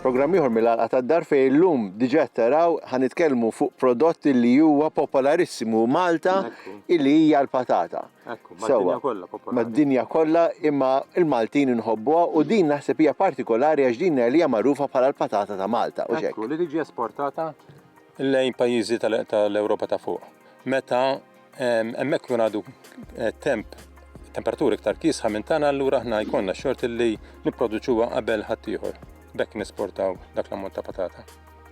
Programm ieħor mill-Għalqa tad-Dar fejn illum diġà taraw ħa nitkellmu fuq prodott li huwa popolarissimu Malta illi hija l-patata. Sewwa, mad-dinja kollha, imma l-Maltin inħobbuha u din naħseb hija partikolari għax din li hija magħrufa bħala l-patata ta' Malta, hux hekk? Li tiġi esportata lejn pajjiżi tal-Ewropa ta' fuq. Meta hemmhekk ikun għadu temp temperaturi iktar kiesħa minn tagħna allura aħna jkollna xort li nipproduċuha qabel ħaddieħor. Bekk nesportaw dak l-ammont ta' patata.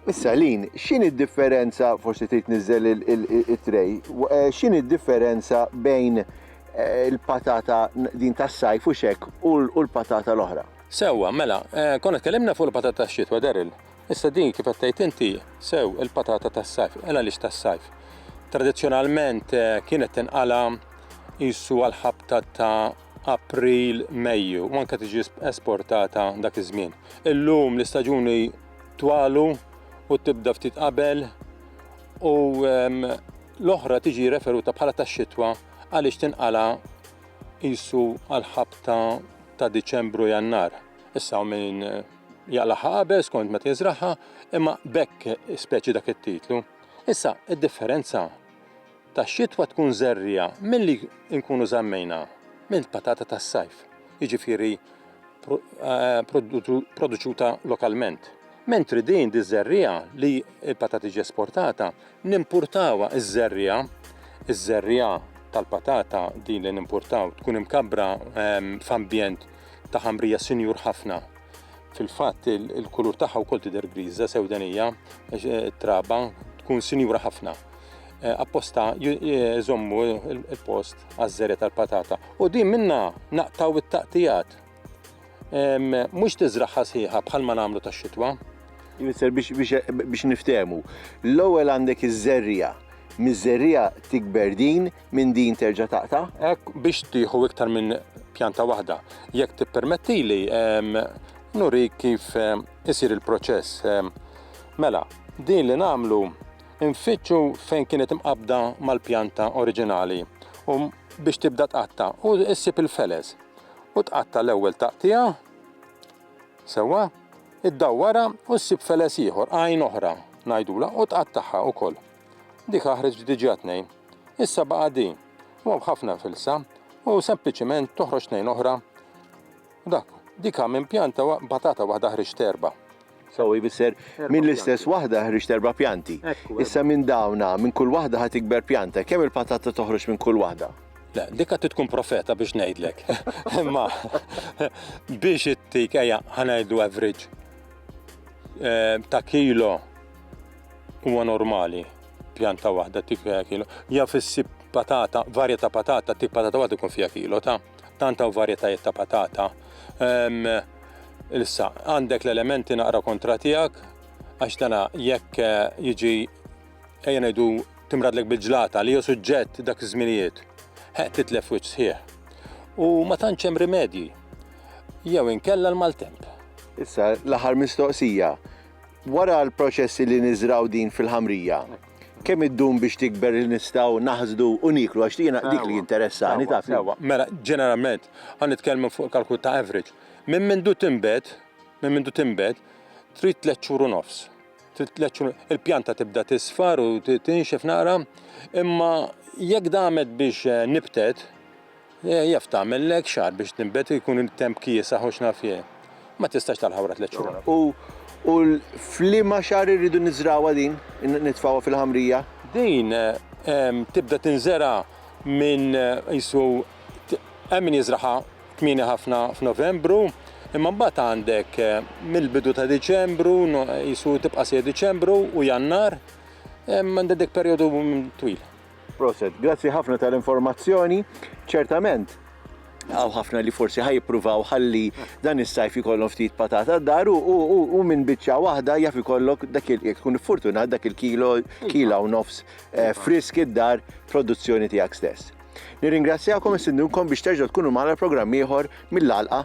Issa Lin, x'inhi d-differenza, forsi trid niżel it-tray, eh, x'inhi d-differenza bejn eh, il-patata din tas-sajf u xek u l-patata l-oħra? Sewwa, mela, eh, konna tkellimna fuq il-patata tax-xitwa, Daryl. Issa din kif qed tgħid inti, sew il-patata tas-sajf, ela għaliex tas-sajf. Tradizzjonalment eh, kienet tinqala jissu għal-ħabta ta' April, Mejju, u anke tiġi esportata dak iż-żmien. Illum l-istaġuni twalu u tibda ftit qabel u ehm, l-oħra tiġi referuta bħala tax-xitwa għaliex tinqala' qisu għall-ħabta ta' Diċembru u Jannar. Issa min eh, jaqlaħħa qabel skont meta jiżraħħa, imma bekk speċi dak it-titlu. Issa, id-differenza tax-xitwa tkun żerriegħa milli nkunu żammejna mill-patata tas-sajf, jiġifieri produċuta lokalment. Mentri din diż-żerriegħa li l-patata tiġi esportata, nimpurtawha ż-żerriegħa, iż-żerriegħa tal-patata din li nimpurtaw tkun imkabbra f'ambjent ta' ħamrija sinjur ħafna. Fil-fatt il-kulur tagħha wkoll tidher griża sewdenija, it-traba tkun sinjura ħafna. Eh, apposta jżommu il-post għaż-żere tal-patata. U din minna naqtaw it-taqtijat. Mhux tiżraħħa sħiħa bħal ma nagħmlu tax-xitwa. Jfisser biex niftehmu. L-ewwel għandek iż-żerrija. Miż-żerrija tikber din minn din terġa' taqta'? Hekk biex tieħu iktar minn pjanta waħda. Jekk tippermettili nuri kif isir il-proċess. Mela, din li nagħmlu Infittxu fejn kienet imqabbda mal-pjanta oriġinali u biex tibda tqatta' u ssib il-feles. U tqatta' l-ewwel taqtigħa sewwa, iddawwarha u ssib feles ieħor, għajn oħra ngħidulha, u tqattagħha wkoll. Dik aħreġt diġà tnejn. Issa baqa' din, u hawn ħafna filsa, u sempliċiment toħroġ tnejn oħra. Dak, dik ha minn pjanta wa patata waħda ħriġt erba'. So jfisser minn l-istess waħda ħriġt erba' pjanti. Issa minn dawn ha, minn kull waħda ha tikber pjanta. Kemm il-patata toħroġ minn kull waħda? Le, dik ha trid tkun profeta biex ngħidlek. Imma biex ittik, ejja, ha ngħidu average ta' kilo huwa normali pjanta waħda tik kilo. Ja fissib patata, varja ta' patata, tik patata waħda ikun fiha kilo ta'. Tant hawn varjetajiet ta' patata. Ehm, Issa, għandek l-elementi naqra kontra tiegħek, għax dana jekk eh, jiġi ejja ngħidu timradlek bil-ġlata li jew suġġett dak iż-żminijiet, ħeq titlef wiċċ sħiħ. U ma tantx hemm rimedji. Jew inkella l-maltemp. Issa, l-aħħar mistoqsija. Wara l-proċessi li niżrgħu din fil-ħamrija, kemm iddum biex tikber li nistgħu naħsdu u nieklu għax jiena dik li jinteressani taf. Sewwa, mela ġeneralment, ħa nitkellmu fuq kalkolu ta' average, minn mindu tinbet, minn mindu tinbet, trid tliet xhur u nofs. Trid tliet xhur, il-pjanta tibda tisfar u tinxef naqra, imma jekk damet biex nibtet, Jaf tagħmellek xahar biex tinbet u jkun it-temp kiesaħ u x'naf jien. Ma tistax tagħlaq wara tliet xhur. U u f'liema xahar irridu niżrgħuha din, nitfgħuha fil-ħamrija? Din tibda tinżera' minn qisu hemm min jiżragħha kmieni ħafna f'Novembru, imma mbagħad għandek mill-bidu ta' Diċembru, qisu tibqa' sejjer Diċembru u Jannar, għandha dik perjodu twil. Proset, grazzi ħafna tal-informazzjoni. Ċertament, għaw ħafna li forsi ħaj jippruvaw ħalli dan is-sajf jkollhom ftit patata d-dar u minn biċċa waħda jaf ikollok dak il jekk tkun fortunat dak il-kilo kila u nofs eh, frisk id-dar produzzjoni tiegħek stess. Nirringrazzjakom istindunkom biex terġgħu tkunu magħna programm ieħor mill-alqa